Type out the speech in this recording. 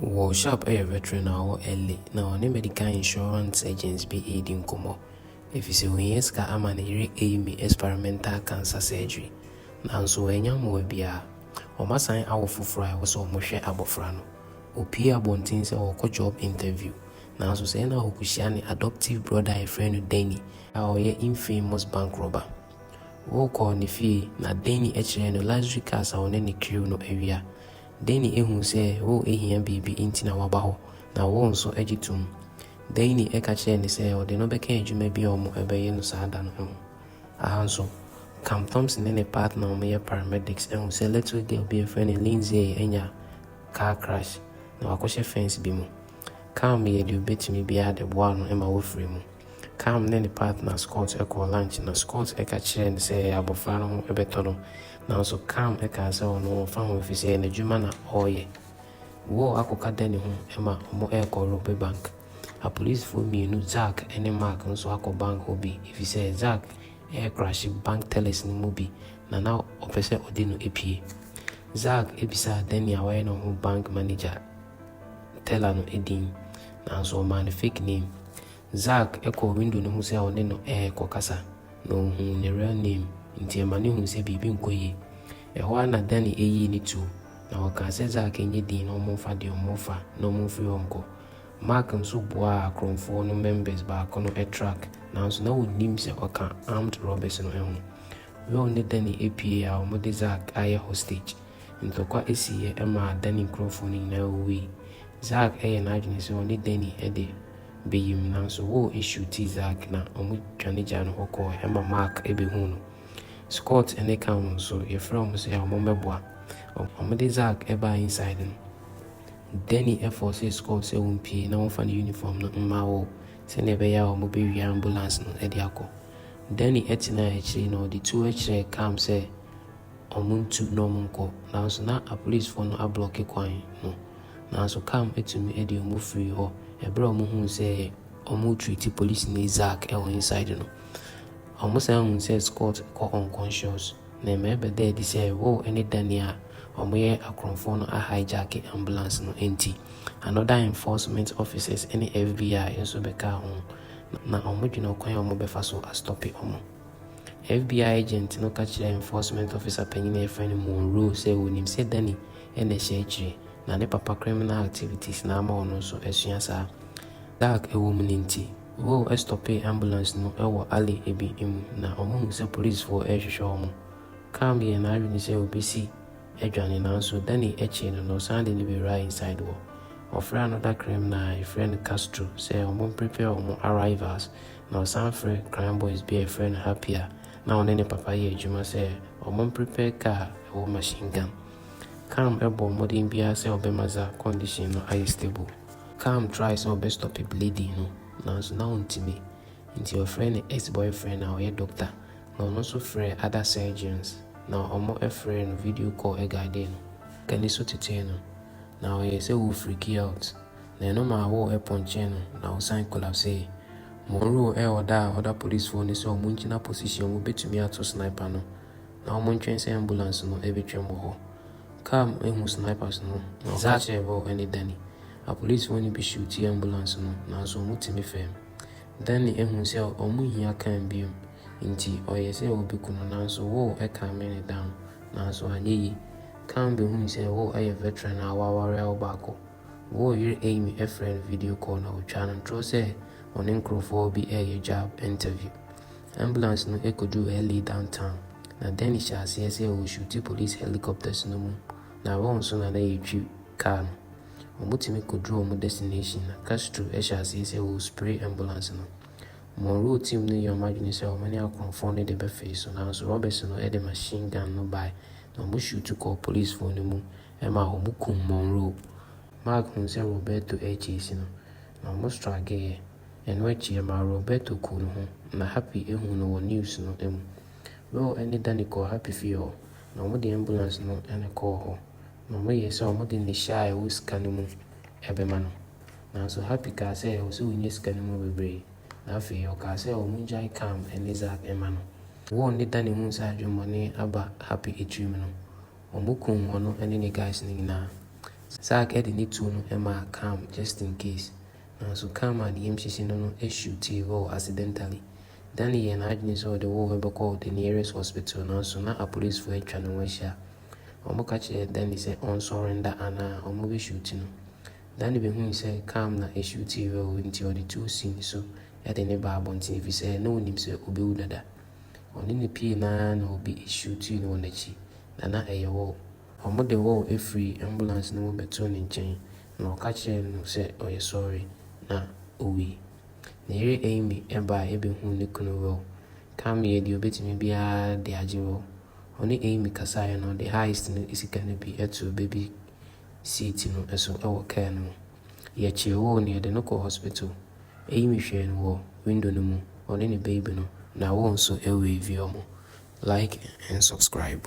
Wɔ Sharp yɛ veteran a ɔwɔ LA, na ɔne medical insurance agents bi redi nkɔmmɔ efisɛ ohia sika ama ne yere Amy experimental cancer surgery. Nanso wannya mmoa biara. Wɔasan awo foforo a ɛwɔ sɛ wɔhwɛ abofra no. Opue abɔnten sɛ ɔrekɔ job interview, nanso sɛɛ na okohyia ne adoptive brother a yɛfrɛ no Denny, a ɔyɛ infamous bank robber. Wokɔɔ ne fie, na Denny kyerɛɛ no luxury cars a ɔne ne crew no awia, Dani ahu sɛ Wo ahia biribi nti na waba hɔ, na Wo nso agye tom. Dani ka kyerɛɛ no sɛ ɔde no bɛka adwuma bi a wɔbɛyɛ no saa da no ho. Aha nso, Cam Thompson ne ne partner a wɔyɛ paramedics ahu sɛ little girl bi a wɔfrɛ no Lindsay anya car crash, na wakɔhyɛ fence bi mu. Cam yɛɛ deɛ ɔbɛtumi biara de boaa no ma ɔfirii mu. Cam ne ne partner Scott kɔɔ lunch na Scott ka kyerɛɛ no sɛ abofra no ho bɛtɔ no, nanso Cam kaa sɛ ɔno ɔmfa ho efisɛ n'adwuma na ɔreyɛ. Wall akɔka da ne ho ma wɔrekɔ robe bank. Apolisifo mmienu, Zach ne Mark nso akɔ bank hɔ bi efisɛ Zach recrashe bank tellers no mu bi na na ɔpɛ sɛ ɔde no pue. Zach bisaa Danny a wayɛ ne ho bank manager teller no din, nanso ɔmaa no fake name. Zack kɔɔ window no ho sɛ ɔne no rekɔkasa, na ohuu ne real name, enti ɛma no hui sɛ biribi nkɔ yie. Ɛhɔ ara na Danny yii ne tuo, na ɔkaa sɛ Zack nyɛ dinn na wɔmfa deɛ wɔfa na wɔmfiri hɔ nkɔ. Mark nso boaa akorɔmfoɔ no members baako no truck, nanso na wɔnnim sɛ ɔka armed robbers no ho. Will ne Danny puee a wɔde Zack ayɛ hostage. Ntɔkwa siiɛ maa Danny nkurɔfoɔ no nyinaa wuwui. Zack yɛɛ n'adwene sɛ ɔne Danny de bɛyim nanso Woo shuutii Zack na wɔdwane gyaa no hɔ kɔɔɛ ɛma Mark bɛhuu no. Scott ne Cam nso, yɛfrɛɛ wɔn sɛ wɔmmɛboa. Wɔde Zack baa inside no, Danny fɔɔsee Scott sɛ wɔmpue na wɔmfa ne uniform no mma Woo sɛdeɛ ɛbɛyɛ a wɔbɛwia ambulance no de akɔ. Danny tenaa akyiri na ɔde tuo kyerɛɛ Cam sɛ, wɔntu na wɔnkɔ, nanso na apolisifo no ablɔke kwan no. Nanso Cam tumi de wɔn firii hɔ bere a wɔhuu sɛ wɔretreati polisini Zach wɔ inside no. Wɔsan huu sɛ Scott kɔ unconscious, na ɛma ɛbɛdaa adi sɛ Roe ne Danny a wɔyɛ akorɔmfo no ahijacked ambulance no nti. Another enforcement officers ne FBI nso bɛkaa ho, na wɔdwene ɔkwan a wɔbɛfa so astɔpe wɔn. FBI agent no ka kyerɛɛ Enforcement Officer panyin a wɔfrɛ no Monroe sɛ onim sɛ Danny na ɛhyɛ akyiri, na ne papa criminal activities na ama ɔno nso asua saa. Dark wom no nti, Vole stopee ambulance no wɔ alley bi mu na wɔhuu sɛ polisifo rehwehwɛ wɔn. Cam yɛɛ n'adwene sɛ obesi adwane, nanso Danny kyee no na ɔsan de no bewuraa inside hɔ. Wɔfrɛɛ another criminal a wɔfrɛ no Castro sɛ wɔmprepare wɔn arrivals Na ɔsan frɛ Crying Boys bi a yɛfrɛ no Happy a na ɔne ne papa yɛ adwuma sɛ wɔmprepare kaa a ɛwɔ machine gun. Cam bɔɔ mmɔden biara sɛ ɔbɛma Za condition no ayɛ stable. Cam try sɛ ɔbɛ stop bleeding no nanso na ɔntumi nti ɔfrɛɛ ne ex boyfriend a ɔyɛ doctor na ɔno nso frɛɛ other surgeons na wɔn frɛɛ no video call guidee no. Ka niso tetee no na ɔyɛɛ sɛ ɔɔ freaky out Na ɛno maa wo ɛpɔnkyee no na ɔsan kolapsee. Monroe ɛɛ ɔdaa other polisfoɔ no sɛ ɔmo ngyina position mu bɛtumi ato sniper no na ɔmo ntwɛn sɛ ambulance no ɛbɛtwam wɔ hɔ. Car mu ɛhu snipers no na ɔka kyerɛɛ bɔ ɛne Danny. Apolisfoɔ no bi shootee ambulance no nanso ɔmo tumi fɛɛm. Danny ɛhu sɛ ɔmo nhia car biom nti ɔyɛɛ sɛ ɔbɛku no nanso wo ɛcalme no down nanso anyɛ yi. Car bɛhuu sɛ wo ɛyɛ veteran a w'awareɛ wo baako. Woo yere Amy frɛɛ no video call na ɔtwaa no ntorɔ sɛ ɔne nkorɔfoɔ bi reyɛ job interview. Ambulance no kɔduu LA downtown na Danny hyɛɛ aseɛ sɛ ɔreshuuti police helicopters no mu na Ron nso na na yɛretwi car no. Wɔtumi kɔduruu wɔn destination na Castro hyɛɛ aseɛ sɛ ɔrespray ambulance no. Monroe team no yɛɛ wɔn adwene sɛ wɔne akorɔmfoɔ no de bɛfee so nanso Roberts no de machine gun no bae na wɔshuutu kɔɔ policefoɔ no mu Ɛma wɔkum Monroe. Mark huu sɛ Roberto akyi asi no, na wɔstrageeɛ. Ɛno akyi, ɛmaa Roberto kuu ne ho, na Happy huu no wɔ news no mu. Will ne Danny kɔɔ Happy fie hɔ, na wɔde ambulance no ne kɔɔ hɔ, na wɔyɛɛ sɛ wɔde ne hyɛ a ɛwɔ sika no mu bɛma no. Nanso Happy kaa sɛ ɛwɔ sɛ ɔnya sika no mu bebree, na afei ɔkaa sɛ wɔngyae Cam ne Zach mma no. Will ne Danny huu sɛ adwemmɔne aba Happy tirim no, Ɔmo kum ɔno ne ne guys no nyinaa. Zack ɛde ne tuo no ɛmaa Cam just in case. Nanso Cam a ne yam hyehye no no ɛshootee hɔɔ accidentally. Danny yɛɛ n'adwene sɛ ɔde hɔɔ ɛbɛkɔɔ the nearest hospital nanso na apolisfoɔ atwa ne ho ahyia. Ɔmo ka kyerɛɛ Danny sɛ ɔnsɔre nda anaa ɔmo bɛ shoot no. Danny behui sɛ Cam na ɛshootee hɔɔ nti ɔde tuo sii ne so ɛde ne baa abɔnten efisɛ na onim sɛ ɔbɛwu dada. Ɔne no pue no ara na obi hwiw tii no wɔ n'akyi, na na ɛyɛ Wall. Wɔde Wall firii ambulance no mu bɛtoo ne nkyɛn, na wɔka kyerɛɛ no sɛ ɔyɛ sɔre, na owui. Ne yere Amy bae behuu ne kunu Wall. Cam yɛɛ deɛ obetumi biara de agye Wall. Ɔne Amy kasaeɛ no, ɔde heist no sika no bi too baby seat no so wɔ kaa no mu. Yɛkyee woo no yɛde no kɔɔ hospital eyi me hwɛɛ no wɔ window no mu ɔne ne baby no na woo nso wave ɔmo like and subscribe.